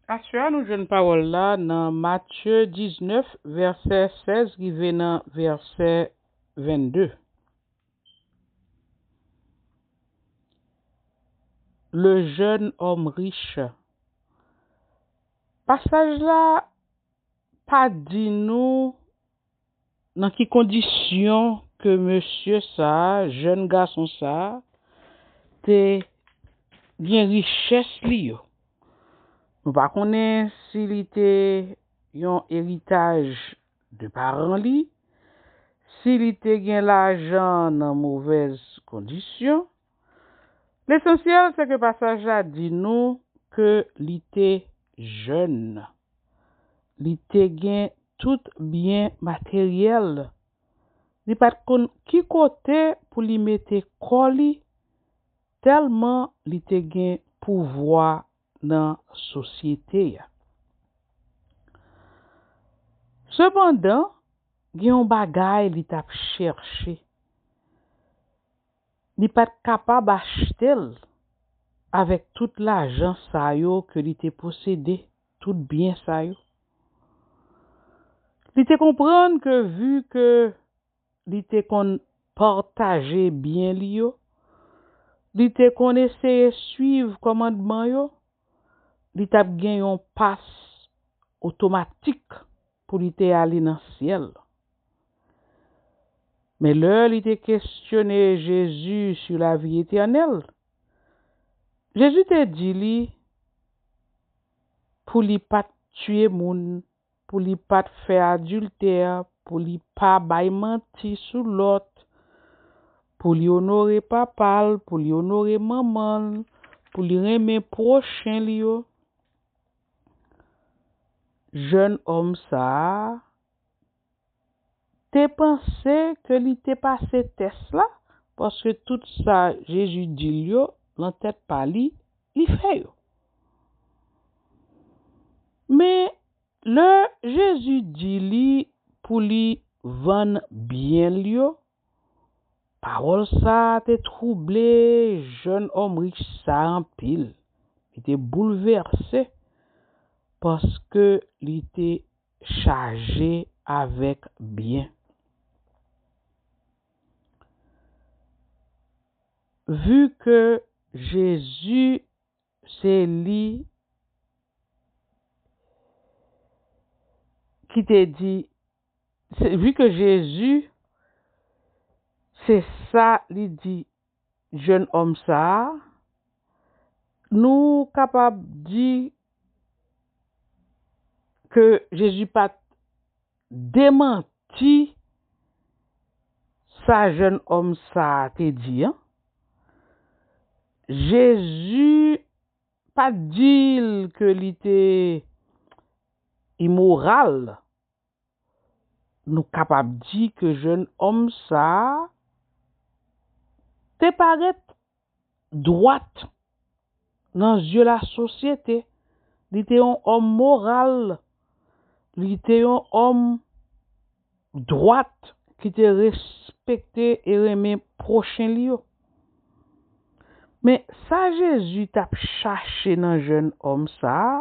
Aswè a nou jwenn pawòl la nan Matye 19 vèsè 16 rive nan vèsè 22. Le jeune homme riche Pasaj la pa di nou Nan ki kondisyon ke mesye sa, jèn gason sa, te gen richès li yo? Nou pa konnen si li te yon eritaj de paran li, si li te gen lajan nan movèz kondisyon, Lesansyèl se ke pasaj la di nou ke li te jèn. Li te gen tout byen materyèl. Li pa t konn ki kote pou li mete kò li tèlman li te gen pouvwa nan sosyete a. Sepandan, gen yon bagay li t ap chèche. Li pat kapab achte l avèk tout lajan sa yo ke li te posede, tout byen sa yo. Li te konprann ke vi ke li te konn pataje byen li yo, li te konn eseye swiv kòmandman yo, li tap gen yon pas otomatik. Pou li te ale nan syèl. Men lè li te kestyone Jezi sou lavi etènèl, Jezi te di li pou li pa t tiye moun, pou li pa t fè adiltè, pou li pa bay manti sou lòt, pou li onore papa l, pou li onore manman l, pou li renmen pwochen li yo. Jèn òm sa a te panse ke li te pase tès la paske tout sa Jezi di l yo nan tèt pa li, li fè yo. Men, lè Jezi di li pou li vann byen l yo Pawòl sa a te twouble jèn òm rich sa a anpil. Li te boulvèse paske li te chaje avèk byen. Vu ke Jezi se li ki te di Se vu que Jésus se sa li di jeune homme sa nou kapab di ke Jésus pat demanti sa jeune homme sa te di an Jésus pat dil ke li te immoral. Nou kapab di ke jèn òm sa a te parèt dwat nan zye lasosyete, li te yon òm moral, li te yon òm dwat ki te respekte e renmen pwochen li yo. Men, sa Jezi t ap chache nan jèn òm sa a,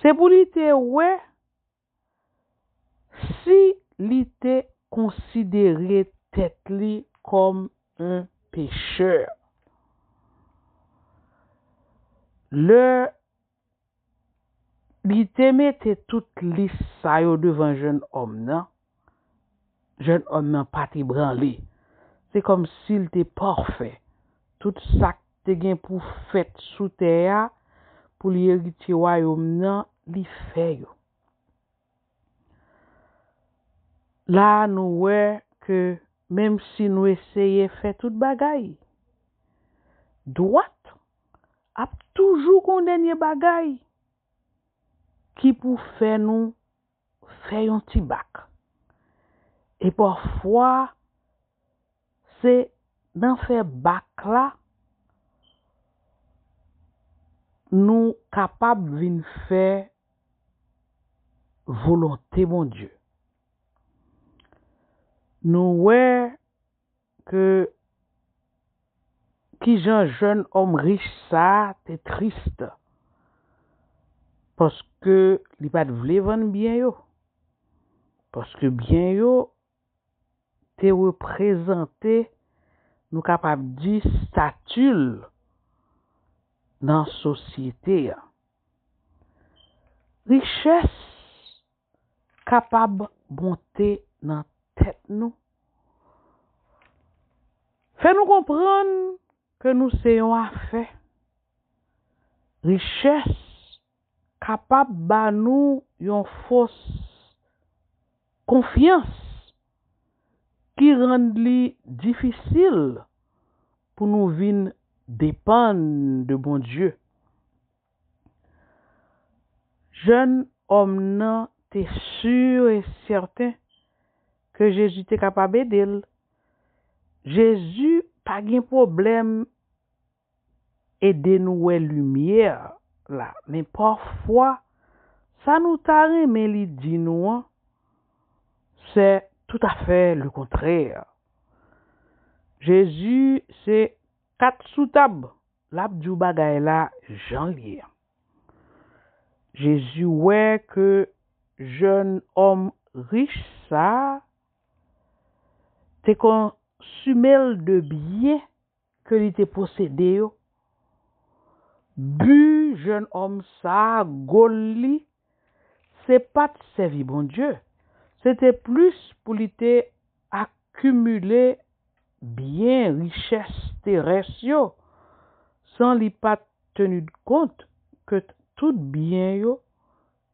Se pou li te wè si li te konsidere tèt li kòm on pechè. Lè li te mete tout lis sa yo devan jennòm nan, Jèn òm nan pa t ebranle. Se kòmsi l te pafè. Tout sa k te gen pou fèt sou tè a pou li eritye Wayòm nan, li fè yo. La a, nou wè ke menmsi nou eseye fè tout bagay dwat, ap toujou gen yon dènye bagay ki pou fè nou fè yon ti bak. E pafwa se nan fè bak la nou kapab vin fè volonte Bondye. Nou wè. Ke kijan jèn òm rich sa a te triste paske li pa t vle vann byen yo, paske byen yo te reprezante nou kapab di stati l nan sosyete a. Richès. kapab monte nan tèt nou, fè nou konprann ke nou se yon afè, richès kapab ba nou yon fòs konfyans ki rann li difisil pou nou vin depann de Bondye. Jèn òm nan te sur e sèten ke Jezi te kapab ede l. Jezi pa gen pwoblèm ede nou wè limyè la, men pafwa sa nou ta renmen li di nou an se toutafè lekontrè. Jezi se kat sou tab Lap diw bagay la janl ye an. Jezi wè ke jèn òm rich sa te konsumel de byen ke li te posede yo, bu jèn òm sa gol li. se pa t sèvi Bondye, se te plis pou li te akimile byen, richès terès yo, san li pa t tenidkont ke tout byen yo,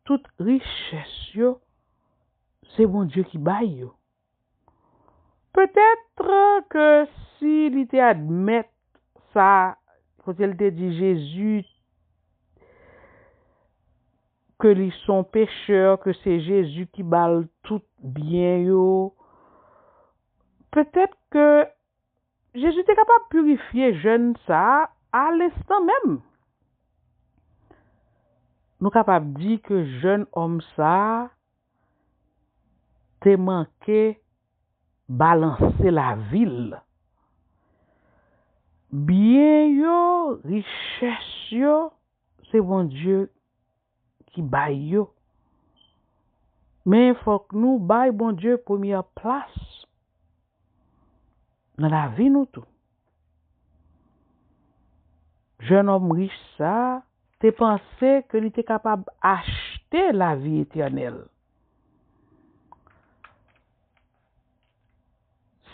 tout richès yo, se Bondye ki bay yo. Peut-être que si li te admèt sa kote li te di Jésus ke li son pécheur ke se Jésus ki bal tout byen yo peut-être que Jezi te kapab pirifye jèn sa a alenstan menm. Nou kapab di ke jèn òm sa a te manke balanse lavi l. Byen yo, richès yo, se Bondye ki bay yo men fòk nou bay Bondye premyè plas nan lavi nou tou. Jènòm rich sa a te panse ke li te kapab achte lavi etènèl.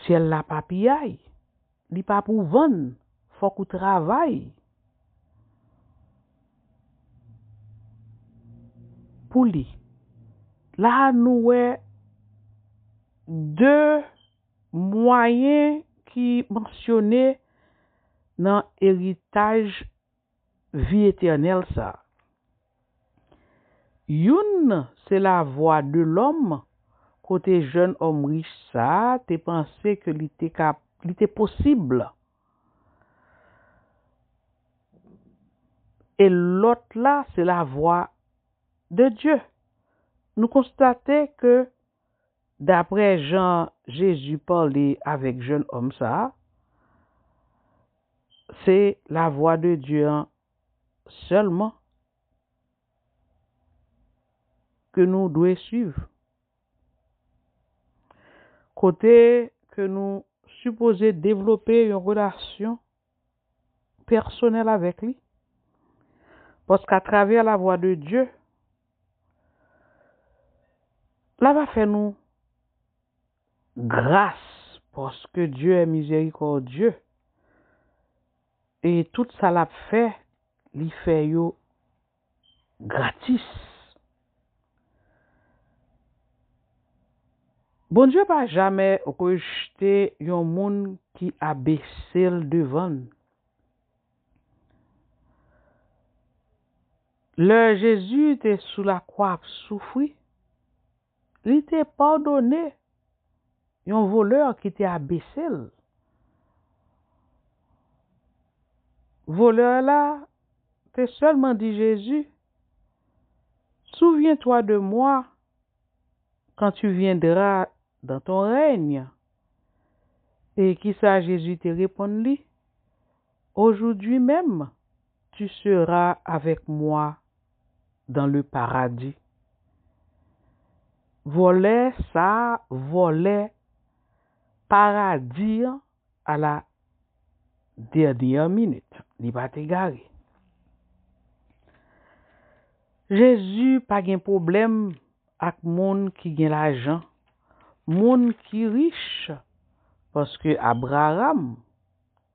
Syèl la pa piyay. Li pa pou vann fok ou travay pou li la nou wè de mwayen ki mansyone nan eritaj vi etènèl sa a. Youn nan se lavwa de lòm kote jèn òm rich sa a te panse ke li te ka li te posib e lòt la se lavwa de Dye. Nou konstate ke. daprè jan Jezi pale avèk jèn òm sa a, se lavwa de Dye an sèlman ke nou dwe suiv, kote ke nou sipoze devlope yon relasyon. pèsonèl avèk li, paske atravè lavwa de Dye, la va fè nou gras, paske Dye è mizerikòdye, e tout sa lap fè, li fè yo Gratis. Bondye pa jamè rejte yon moun ki abesel devanl. Lè Jezi te sou lakwa ap soufri. Li te padone yon voleur ki te abese l. Voleur la te seulement di Jezu, Souviens-toi de moi quand tu viendra dans ton règne. E kisa Jezu te reponn li, Aujourd'hui même. Tu seras avec moi dans le paradis vòlè sa vòlè paradi an a la dernière minute li pat egare Jezu pa gen pwoblèm ak moun ki gen lajan moun ki rich paske Abraram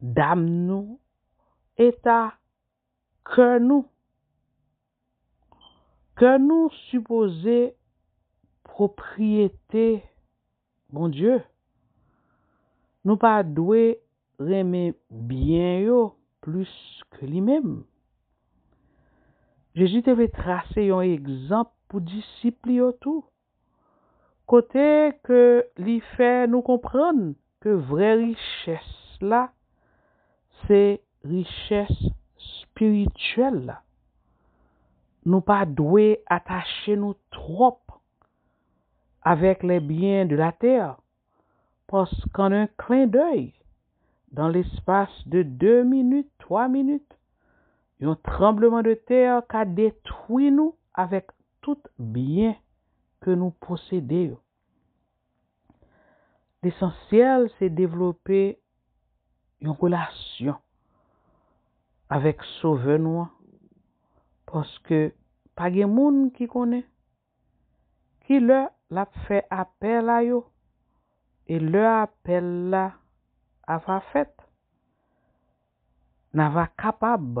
dam nou, eta kè nou. Kè nou sipoze pwopriyete Bondye. Nou pa dwe renmen byen yo plis ke li menm. Jezi te vle trase yon egzanp pou disip li yo tou. kote ke li fè nou konprann ke vrè richès la se richès spirityèl la. Nou pa dwe atache nou twòp avèk les biens de la terre, pask an un clin d'oeil, dans l'espace de deux minutes, trois minutes, yon tranbleman de terre ka detwi nou avèk Tout byen ke nou posede yo. Lesansyèl se devlope yon relasyon avèk Sovè nou an, paske pa gen moun ki konnen ki lè l ap fè apèl a yo e lè apèl la ava fèt. N ava kapab